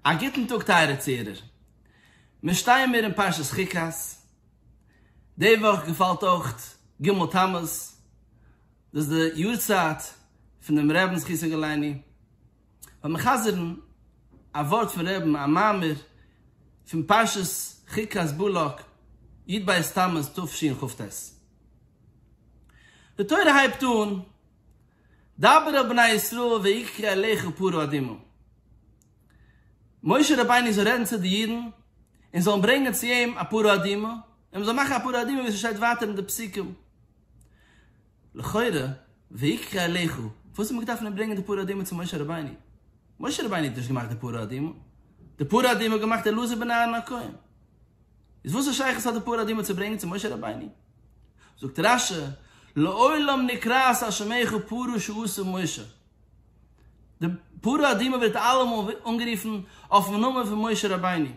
א גוטן טאג טייערע צוהערער. מיר שטייען מיר אין פרשת חוקת, די וואך געפאלט אויך ג' תמוז, דאס איז די יארצייט פונעם רעבן זכותו יגן עלינו, וועל מיר חזר'ן א ווארט פון רעבן, א מאמר פון פרשת חוקת בלק, י ד בית תמוז תשכ ט. די תורה הייבט אן דבר אל בני ישראל ויקרא אליך פרעה אדימו. משה רבינו זאל רעדן צו די אידן און זאלן ברענגען צו אים א פרעה אדימו, און מען זאל מאכן א פרעה אדימו ווי ס'שטייט ווייטער אין די פסוקים. לכאורה ויקרא אליך, פארוואס האט מען געדארפט נאר ברענגען די פרעה אדימו צו משה רבינו? משה רבינו האט נישט געמאכט די פרעה אדימו, די פרעה אדימו האט געמאכט אלעזר בן אהרן הכהן. איז וואסע שייכות האט די פרעה אדימו צו ברענגען צו משה רבינו? זאגט רשי, לעולם נקראת על שמך פרעה שעשה משה. די פרעה אדמה ווערט אלעמאל אנגערופן אויפן נאמען פון משה רבינו.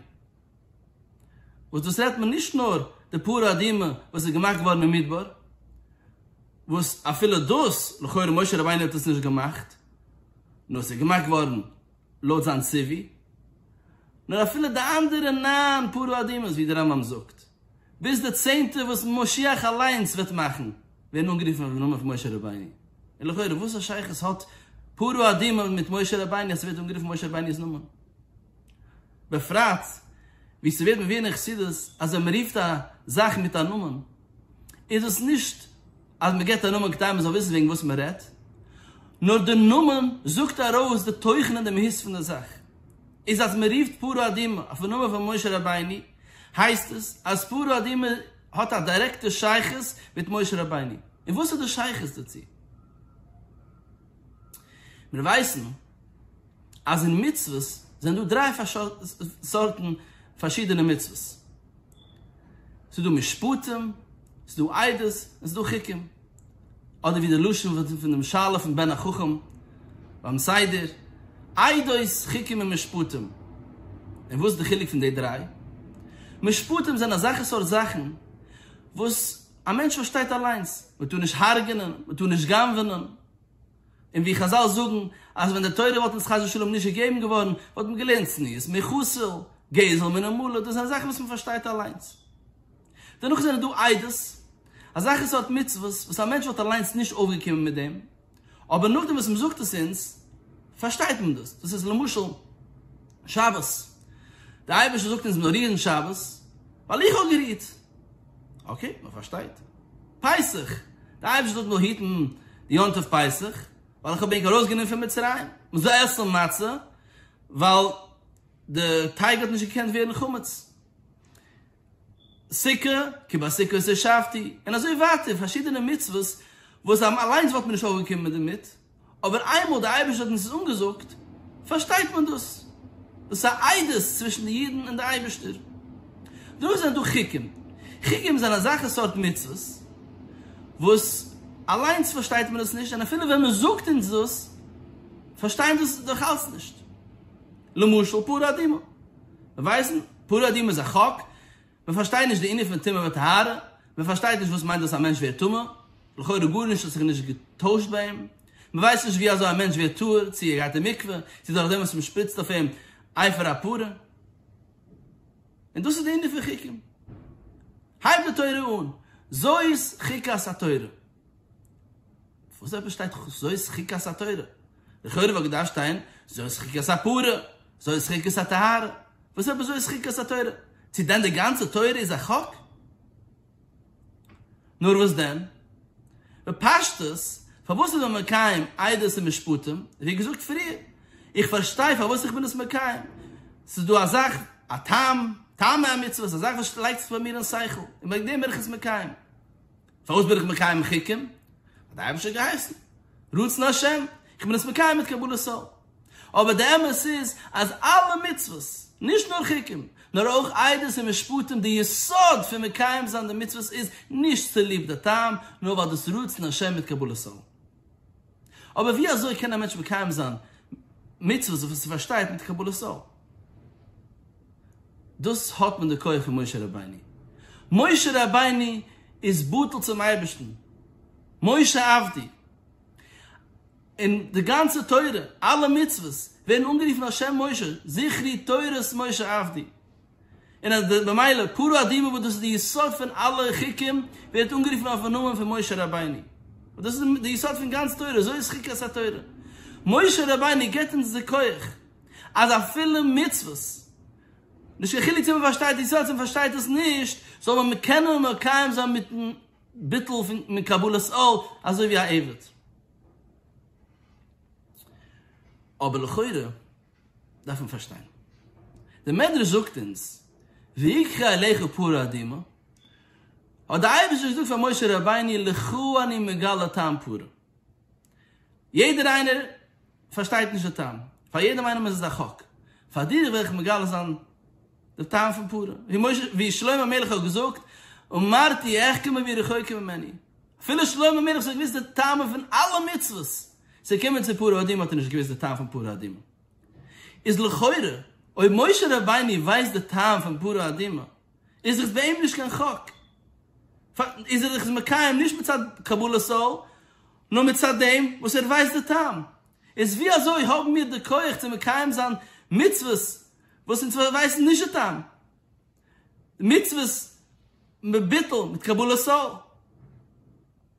וואס דאס רעדט מען נישט נאר די פרעה אדמה וואס איז געמאכט געווארן אין מדבר, וואס אפילו דאס, לכאורה משה רבינו האט עס נישט געמאכט, נאר עס איז געמאכט געווארן לויט זיין ציווי, נאר אפילו די אנדערע נײַן פרעה אדמות ווי דער רמב ם זאגט, ביז די צענטע וואס משיח אליינס וועט מאכן, ווערן אנגערופן אויפן נאמען פון משה רבינו. און לכאורה וואס א שייכות האט פרעה אדומו מיט משה רבינו אז ס'ווערט אנגערופן משה רבינו'ס נאמען? בפרט ווי ס'ווערט מביאר אין חסידות אז ווען מ'רופט א זאך מיט א נאמען איז דאס נישט אז מ'געט א נאמען כדי מ'זאל וויסן וועגן וואס מ'רעדט, נאר די נאמען זאגט ארויס די תוכן און די מהות פון די זאך. איז אז מען רופט פרעה אדומה אויפן נאמען פון משה רבינו, הייסט עס אז פרעה אדומה האט א דירעקטע שייכות מיט משה רבינו, און וואס איז די שייכות דערצו? מיר ווייסן אז אין מצוות זענען דא דריי סארטן פארשידענע מצוות. ס'איז דא משפטים, ס'איז דא עדות, און ס'איז דא חוקים. אדער ווי די לשון פון דעם שאלה פון בן החכם ביים סדר, עדות, חוקים און משפטים. און וואס איז די חילוק פון די דריי? משפטים זענען אזעלכע סארט זאכן וואס א מענטש פארשטייט אליינס. מ'טאר נישט הרג'ענען, מ'טאר נישט גנב'ענען, און ווי חזל זאגן אז ווען די תורה וואלט אונז חס ושלום נישט געגעבן געווארן וואלט מען געלערנט צניעות, מחוסל, גזל מן המלא, דאס זענען זאכן וואס מען פארשטייט אליינס. דערנאך זענען דא איידעס, אזעלכע סארט מצוות וואס א מענטש וואלט אליינס נישט אויפגעקומען מיט דעם, אבער נאכדעם וואס מען זאגט עס אונז פארשטייט מען דאס, דאס איז למשל שבת, דער אייבערשטער זאגט אונז מיר זאל רירן שבת ווייל איך האב גערירט. אקעי, מען פארשטייט. פסח, די אייבערשטער זאל מיר היטן די יום טוב פסח, ווייל איך האב ענק ארויסגענומען פון מצרים, מען זאל עסן מצה, ווייל די טייג האט נישט געקענט ווערן חמץ. סוכה, כי בסוכות ישבתי, און אזוי ווייטער, פארשידענע מצוות וואס אליינס וואלט מען נישט אויך געקומען דערמיט, אבער איינמאל דער אייבערשטער האט אונז עס אנגעזאגט פארשטייט מען דאס, דאס איז א עדות צווישן די אידן און דער אייבערשטער. דערנאך זענען דא חוקים, חוקים זענען אזעלכע סארט מצוות וואס אליינס פארשטייט מען דאס נישט, און אפילו ווען מען זאגט אונז דאס פארשטייען דאס דאך אלץ נישט, למשל פרה אדומה, מיר ווייסן פרה אדומה איז א חוק, מען פארשטייט נישט די ענין פון טומאה וטהרה, מען פארשטייט נישט וואס מיינט דאס א מענטש ווערט טמא, לכאורה גארנישט האט זיך נישט געטוישט ביי אים, מען ווייסט נישט ווי אזוי א מענטש ווערט טהור, צו ער גייט אין מקווה, צו דורך דעם וואס מען שפריצט אויף אים אייפער א פארע. און דאס איז די ענין פון חוקים. הייבט די תורה אן, זאת חוקת התורה. וואס אויב עס שטייט זאת חוקת התורה? לכאורה וואלט געדארפט שטיין זאת חוקת הפרה, זאת חוקת הטהרה, וואס אויב זאת חוקת התורה? צו דען די גאנצע תורה איז א חוק? נאר וואס דען? בפשטות, פארוואס איז מען מקיים עדות און משפטים? ווי געזאגט פריער, איך פארשטיי פארוואס איך בין עס מקיים, ס'איז דא א זאך, א טעם, טעמי המצוות, א זאך וואס לייגט זיך ביי מיר אין שכל, און וועגן דעם בין איך עס מקיים. פארוואס בין איך מקיים חוקים? האט דער אייבערשטער געהייסן, רצון השם, איך בין עס מקיים מיט קבלת עול. אבער די אמת איז אז אלע מצוות, נישט נאר חוקים, נאר אויך עדות און משפטים, די יסוד פון מקיים זיין די מצוות איז נישט צוליב די טעם, נאר ווייל דאס רצון השם מיט קבלת עול. אבער ווי אזוי קען א מענטש מקיים זיין מצוות וואס ער פארשטייט מיט קבלת עול? דאס האט מען די כח פון משה רבינו. משה רבינו איז בטל צום אייבערשטן, משה עבדי. און די גאנצע תורה, אלע מצוות, ווערן אנגערופן על שם משה, זכרי תורת משה עבדי. און אז די במילא פרו אדומו וואס דאס איז די יסוד פון אלע חוקים ווערט אנגערופן אויפן נאמען פון משה רבינו וואס דאס איז די יסוד פון גאנץ תורה אזוי איז חוקת התורה משה רבינו געבט אונז די כח אז אפילו מצוות נישט קיין חילוק צו מען פארשטייט די יסוד צו מען פארשטייט עס נישט זאל מען מען קענען מקיים זיין מיטן ביטול פון מקבלת עול אזוי ווי א עבד אבער לכאורה. דארף מען פארשטיין. דער מדרש זאגט אונז, ויקחה אליך פרה אדומה, האט דער אייבערשטער געזאגט פאר משה רבינו, לך אני מגלה טעם פרה. יעדער איינער פארשטייט נישט די טעם, פאר יעדעם איינעם איז עס א חק, פאר דיר וועל איך מגלה זיין די טעם פון פרה, ווי שלמה המלך האט געזאגט, אמרתי אחכמה והיא רחוקה ממני, אפילו שלמה המלך האט שוין געוואוסט די טעמים פון אלע מצוות, ס'קומען צו פרה אדומה האט ער נישט געוויסט די טעם פון פרה אדומה. איז לכאורה אויב משה רבינו ווייסט די טעם פון פרה אדומה איז דאך ביי אים נישט קיין חק. איז ער דאך מקיים נישט מצד קבלת עול נאר מצד דעם וואס ער ווייסט די טעם. איז ווי אזוי האבן מיר די כח צו מקיים זיין מצוות וואס אונז ווייסן נישט די טעם? מצוות מביטול מיט קבלת עול.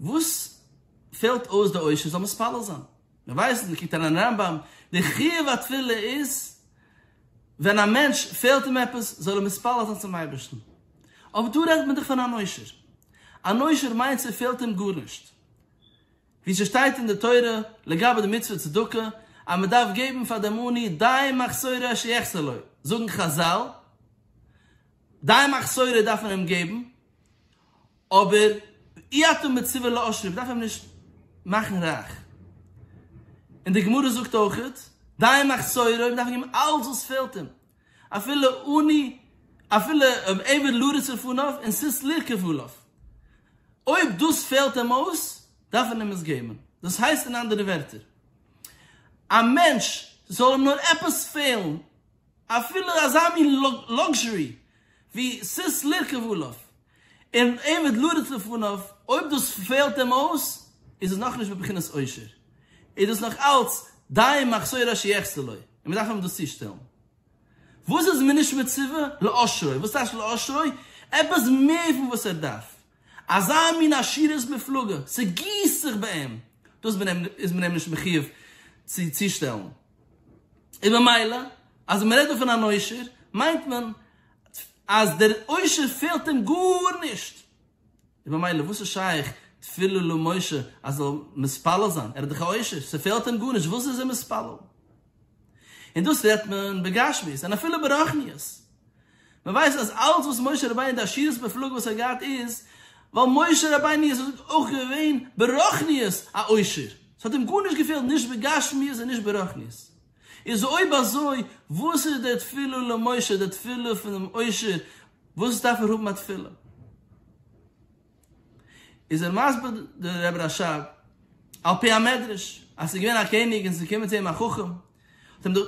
וואס פעלט אויס די עושר זאל מתפלל זיין? מיר ווייסן, מען קוקט אריין אין רמב ם, די חיוב התפילה איז ווען א מענטש פעלט אים עפעס זאל ער מתפלל זיין צום אייבערשטן. אבער דא רעדט מען דאך פון אן עושר. אן עושר מיינט ס'פעלט אים גארנישט. ווי ס'שטייט אין די תורה לגבי די מצוה צדקה אז מען דארף געבן פאר דעם עני די מחסורו אשר יחסר לו, זאגן חזל, די מחסורו דארף מען אים געבן, אבער אי אתה מצווה לעשיר, מ'דארף אים נישט מאכן רייך. און די גמרא זאגט אויכעט, די מחסורו, מ'דארף געבן אלץ וואס פעלט אים, אפילו עני, אפילו עבר לרצ לפניו און סוס לרכב עליו. אויב דאס פעלט אים אויס, דארף מען אים עס געבן. דאס הייסט אין אנדערע ווערטער, א מענטש, ס'זאל אים נאר עפעס פעלן, אפילו אזא מין לאקזשערי ווי סיס לרכב עליו און עבד לרדת לפניו, אויב דאס פעלט אים אויס, איז עס נאכנישט בבחינת עושר, איז דאס נאך אלץ דיין מחסור אשר יחסר לו, און מען דארף אים דאס צושטעלן. וואס איז מען נישט מצווה? לעושרו. וואס טייטש לעושרו? עפעס מער פון וואס ער דארף. אזא מין עשירות מופלגה, ס'גיסט זיך ביי אים, דאס איז מען אים נישט מחיוב צו צושטעלן. און ממילא אז מען רעדט דא פון אן עושר מיינט מען אז דער עושר פעלט אים גארנישט, און ממילא וואס איז שייך תפילו למשה אז זאל מתפלל זיין, ער איז דאך א עושר, ס'פעלט אים גארנישט, וואס איז ער מתפלל? און דאס רעדט מען בגשמיות, און אפילו ברוחניות. מען ווייסט אז אלץ וואס משה רבינו די עשירות מופלגה וואס ער האט געהאט איז ווייל משה רבינו איז אויך געווען ברוחניות א עושר, ס'האט אים גארנישט געפעלט נישט בגשמיות און נישט ברוחניות, איז אויב אזוי וואס איז די תפלה למשה די תפלה פונעם עושר וואס דארף ער האבן א תפלה? איז ער מסביר דער רבי רשב א על פי המדרש אז ס'איז געווען א קעניג און ס'איז געקומען צו אים א חכם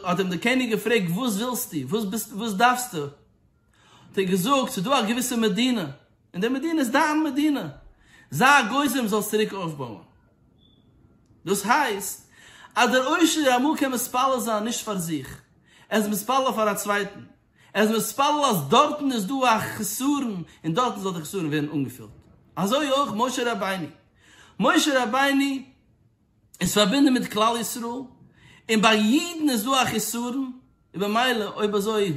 האט אים דער קעניג געפרעגט וואס ווילסטו וואס ביסטו וואס דארפסטו האט ער געזאגט ס'איז דא א געוויסע מדינה און די מדינה איז דיין מדינה זיי א גוזם זאלסט צוריק אויפבויען דאס הייסט אז דער עושר אמאל קען מתפלל זיין נישט פאר זיך ער איז מתפלל פאר א צווייטן. ער איז מתפלל אז דארטן איז דא א חסרון און דארטן זאל די חסרון ווערן אנגעפילט, אזוי אויך משה רבינו, משה רבינו איז פארבינדן מיט כלל ישראל און ביי יעדן איז דא א חסרון, און במילא אויב אזוי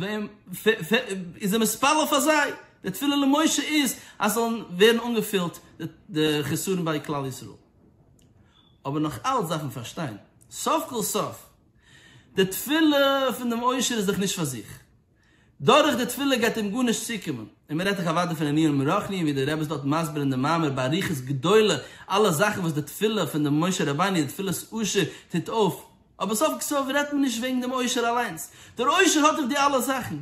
איז ער מתפלל פאר זיי, די תפילה למשה איז אז ס'זאל ווערן אנגעפילט די חסרון ביי כלל ישראל. אבער נאך אלץ דארף מען פארשטיין סוף כל סוף די תפילה פון דעם עושר איז דאך נישט פאר זיך. דורך די תפילה גייט אים גארנישט צוקומען. און מען רעדט דאך אוודאי פון ענינים רוחניים ווי דער רבי איז דארט מסביר אין דעם מאמר באריכות גדולה אלע זאכן וואס די תפילה פון דעם משה רבינו, די תפילת עושר, טוט אויף. אבער סוף כל סוף רעדט מען נישט וועגן דעם עושר אליינס. דער עושר האט דאך די אלע זאכן.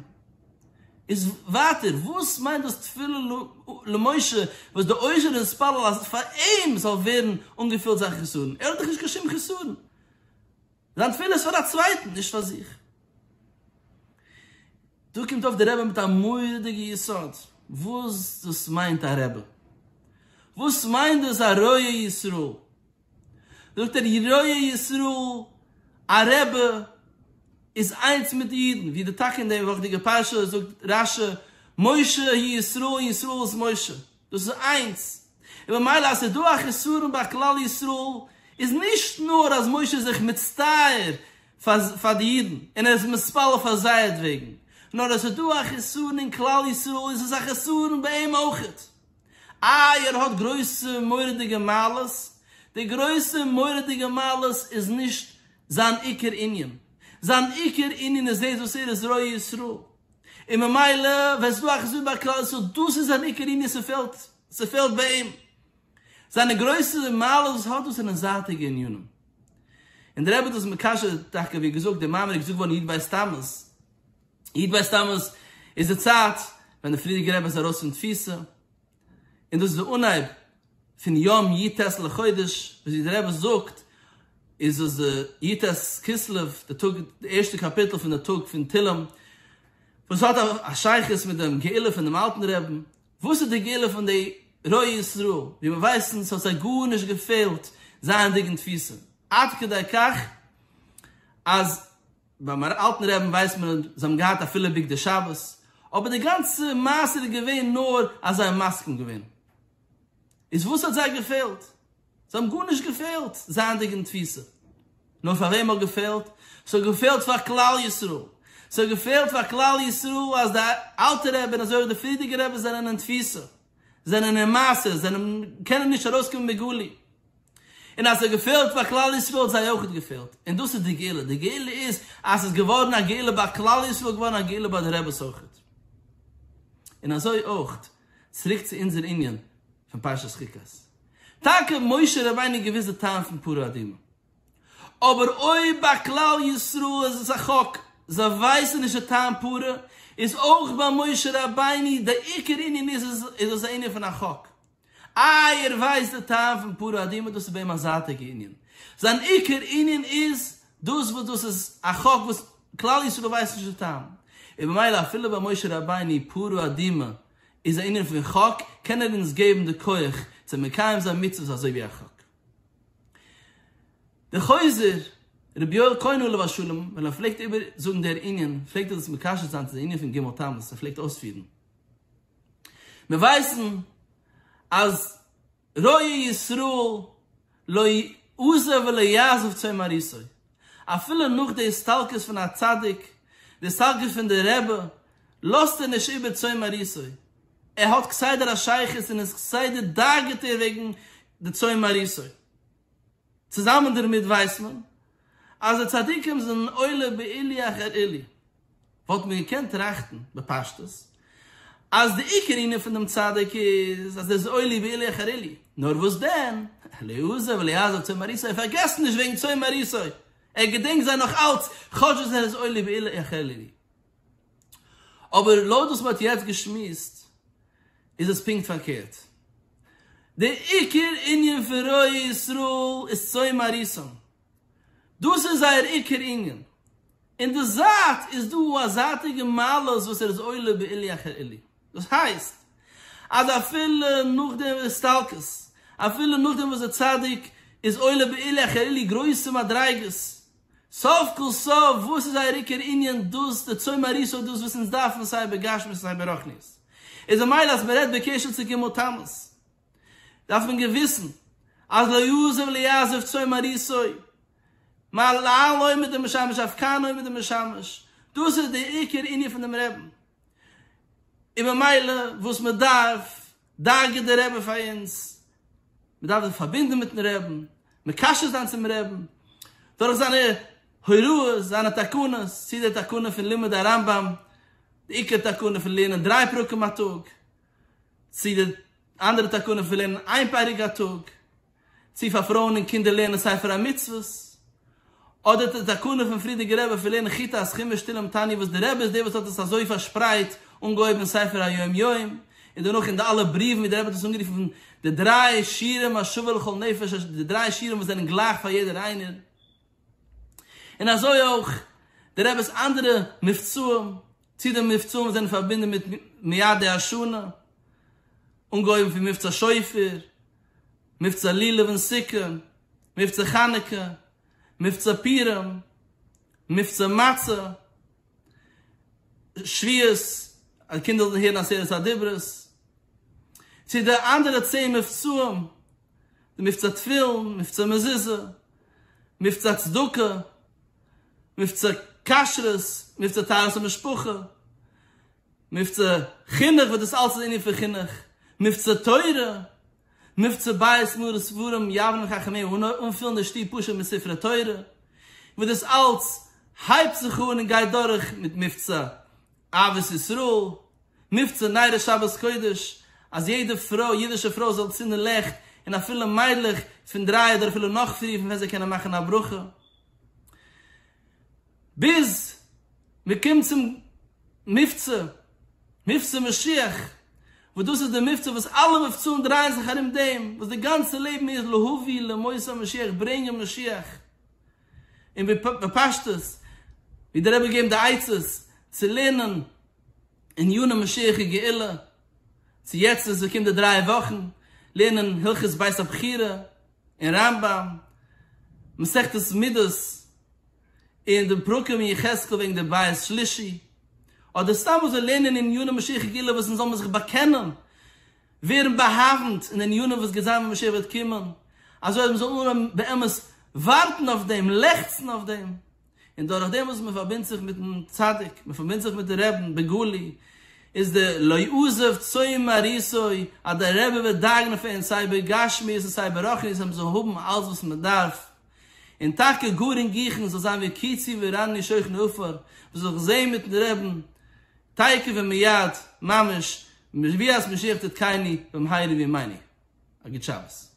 איז ווייטער, וואס מיינט דאס תפילה למשה וואס דער עושר איז מתפלל אז פאר אים זאל ווערן אנגעפילט זיין חסרון? ער האט דאך נישט קיין שום חסרון. זיין תפילה איז פאר א צווייטן, נישט פאר זיך. דא קומט אויף דער רבי מיט א מורא'דיגע יסוד, וואס דאס מיינט א רבי? וואס מיינט דאס א רועה ישראל? זאגט ער, רועה ישראל, א רבי איז איינס מיט די אידן, ווי די טאקע אין די וואכדיגע פרשה זאגט רשי, משה הוא ישראל, ישראל איז משה. דאס איז איינס, און ממילא אז ס'איז דא א חסרון ביי כלל ישראל, איז נישט נאר אז משה איז זיך מצטער פאר די אידן און ער איז מתפלל פאר זייערטוועגן, נאר אז ס'איז דא א חסרון אין כלל ישראל איז עס א חסרון ביי אים אויך. איי ער האט גרויסע מורא'דיגע מעלות? די גרויסע מורא'דיגע מעלות איז נישט זיין עיקר ענין, זיין עיקר ענין איז דאס וואס ער איז ר' ישראל. און ממילא ווען ס'איז דא א חסיד ביי כלל ישראל דאס איז זיין עיקר ענין ס'פעלט ס'פעלט ביי אים זיינע גרויסע מעלות וואס האט דאס זענען זייטיגע ענינים און דער רבי האט דאס מקשר טאקע ווי געזאגט דער מאמר איז געזאגט געווארן יו ט בית תמוז יו ט בית תמוז איז די צייט ווען דער פריערדיגער רבי איז ארויס פון תפיסה און און דאס איז די אנהייב פון יום י ט לחודש, ווי דער רבי זאגט איז דאס די י ט כסלו, די טאג די ערשטע קאפיטל פון די טאג פון תהלים, וואס האט א שייכות מיט דעם גאולה פונעם אלטן רעבן, וואס איז די גאולה פון די רוע ישראל, ווי מיר ווייסן ס'האט זיי גארנישט געפעלט זייענדיג אין תפיסה, עד כדי כך אז. ביים אלטן רעבן ווייסט מען אז זיי האבן געהאט אפילו בגדי שבת, אבער די גאנצע מעשה איז געווען נאר אז זיי האבן מסכים געווען. איז וואס האט זיי געפעלט? זיי האבן גארנישט געפעלט זייענדיג אין תפיסה. נאר פאר וועם האט געפעלט? ס'האט געפעלט פאר כלל ישראל. ס'האט געפעלט פאר כלל ישראל אז די אלטע רעבן אזוי אויך די פריערדיגע רעבן זענען אין תפיסה. זענען אין מעשה, זענען קענען נישט ארויסקומען בגלוי, און אז עס געפעלט פאר כלל ישראל האט זיי אויך געפעלט, און דאס איז די גאולה, די גאולה איז אז עס איז געווארן א גאולה ביי כלל ישראל, געווארן א גאולה ביי די רעבעס אויך. און אזוי אויך, צוריק צו אונזער ענין פון פרשת חוקת, טאקע משה רבינו איז געווען די טעם פון פרה אדומה, אבער אויב ביי כלל ישראל איז עס א חוק, זיי ווייסן נישט די טעם פר', איז אויך ביי משה רבינו די עיקר ענין איז איז עס א ענין פון א חוק. איי ער ווייסט די טעם פון פר' אדמו ר דאס איז ביי אים א זייטיגע ענין. זיין עיקר ענין איז דאס וואס דאס איז א חוק וואס כלל ישראל ווייסט נישט די טעם. און במילא אפילו ביי משה רבינו פר' אדמו ר איז א ענין פון חוק, קען ער אונז געבן די כח צו מקיים זיין מצוות אזוי ווי א חוק. דער חוזר, רבי יואל כהן עליו השלום, ווען ער פלעגט איבער זאגן דער ענין, פלעגט ער דאס מקשר זיין צו דער ענין פון ג' תמוז, ער פלעגט אויספירן. מיר ווייסן אז ראה ישראל לא יעזב ולא יעזוב צאן מרעיתו, אפילו נאך די הסתלקות פון א צדיק, די הסתלקות פון דער רבי, לאזט ער נישט איבער צאן מרעיתו, ער האט כסדר א שייכות און איז כסדר דאגה'טע וועגן די צאן מרעיסו. צוזאמען דערמיט ווייסט מען אז די צדיקים זענען עולה בעילי אחר עילי. וואלט מען געקענט טראכטן בפשטות אז די עיקר ענין פון דעם צדיק איז אז ער איז עולה בעילי אחר עילי. נאר וואס דען, לעו זה ולעז זה צאן מרעיסו, ער פארגעסט נישט וועגן צאן מרעיסו, ער געדענקט זיי נאך אלץ, כאטש אז ער איז עולה בעילי אחר עילי. אבער לויט וואס מען האט יעצט געשמועסט איז עס פונקט פארקערט. די עיקר ענין פון רועי ישראל איז צאן מרעיתם. דאס איז זייער עיקר ענין. אין די זייט איז דא א זייטיגע מעלות וואס ער איז עולה בעילי אחר עילי. דאס הייסט אז אפילו נאך די הסתלקות, אפילו נאכדעם וואס די צדיק איז עולה בעילי אחר עילי גרויסע מדריגות, סוף כל סוף וואס איז אייער עיקר ענין דאס די צאן מרעיס אויף דאס וואס אונז דארפן סיי בגשמיות און סיי ברחניות איז ממילא אז מען רעדט בקשר צו גומל תמוז דארף מען געוויסן אז לא יעזוב לא יעזוב צאן מרעיסו מעל לעל עומד דער משמש אויף קאן עומד דער משמש דאס איז די עיקר ענין פון דעם רעדן און ממילא וואס מען דארף דאגה'ט דער רבי פאר אונז, מען דארף זיך פארבינדן מיט'ן רעבן, מקשר זיין צום רעבן, דורך זיינע הוראות, זיינע תקנות, צי די תקנה פון לימוד הרמב ם, די עיקר תקנה פון לערנען דריי פרקים א טאג, צי די אנדערע תקנה פון לערנען איין פרק א טאג, צי פאר פרויען און קינדער לערנען ספר המצוות, אדער די תקנה פון פרידיגער רבי פון לערנען חיטה אז חומש תהלים תענית וואס די רבי איז דער וואס האט עס אזוי פארשפרייט, אנגעהויבן אין ספר היום יום, און דערנאך אין די אלע בריוון ווי דער רבי האט עס אנגערופן די דריי שירים השווה לכל נפש, די דריי שירים וואס זענען גלייך פאר יעדער איינער, און אזוי אויך די רבי'ס אנדערע מבצעים, צו די מבצעים וואס זענען פארבינדן מיט מיידי השנה, אנגעהויבן פון מבצע שופר, מבצע לולב און סוכה, מבצע חנוכה, מבצע פורים, מבצע מצה, שביעות, אז קינדער זאלן הערן עשרת הדיברות, צו די אנדערע צען מבצעים, די מבצע תפילין, מבצע מזוזה, מבצע צדקה, מבצע כשרות, מבצע טהרת המשפחה, מבצע חינוך וואס דאס אלס איז ענין פון חינוך, מבצע תורה, מבצע בית מרת ספרים יבנה חכמי און אנפילן די שטוב פשוט מיט ספרי תורה, וואס דאס אלס הייבט זיך אן און גייט דורך מיט מבצע אהבת ישראל, מבצע ניירא שבת קודש, אז יעדע פרוי, אידישע פרוי, זאל צינדן לעכט, און אפילו מיידלעך פון דריי אדער אפילו נאך פריער פון ווען זיי קענען מאכן א ברכה. ביז מען קומט צום מבצע, מבצע משיח, וואס דאס איז די מבצע וואס אלע מבצעים דרייען זיך ארום דעם, וואס די גאנצע לעבן איז להביא למות המשיח, ברענגען משיח, און בפשטות ווי דער רבי געבן די עצות צו לערנען עניני משיח און גאולה, צו יעצט וואס עס קומט די דריי וואכן, לערנען הלכות בית הבחירה, אין רמב ם, מסכת מידות, אין די פרקים אין יחזקאל וועגן די בית שלישי, אדער סתם אזוי לערנען אין עניני משיחי גאולה וואס אונז זאל מען זיך באקענען, ווערן באהאווענט אין ענינים וואס גייט זיין ווען משיח וועט קומען, אזוי אז מען זאל אנהויבן באמת ווארטן אויף דעם, לעכצן אויף דעם. און דורך דעם וואס מען פארבינדט זיך מיטן צדיק, מען פארבינדט זיך מיטן רעבן בגלוי, איז די לא יעזוב צאן מרעיתו, אז דער רבי וועט דאגה'ן פאר אונז סיי בגשמיות און סיי ברחניות אז מען זאל האבן אלץ וואס מען דארף, און טאקע גאר אינגיכן זאל זיין ווי קיצי וראני שוכן עפר, וואס זאל זיך זעהן מיטן רעבן תיכף ומיד ממש, מביאת משיח תתקייני במהרה בימינו. א גוט שבת.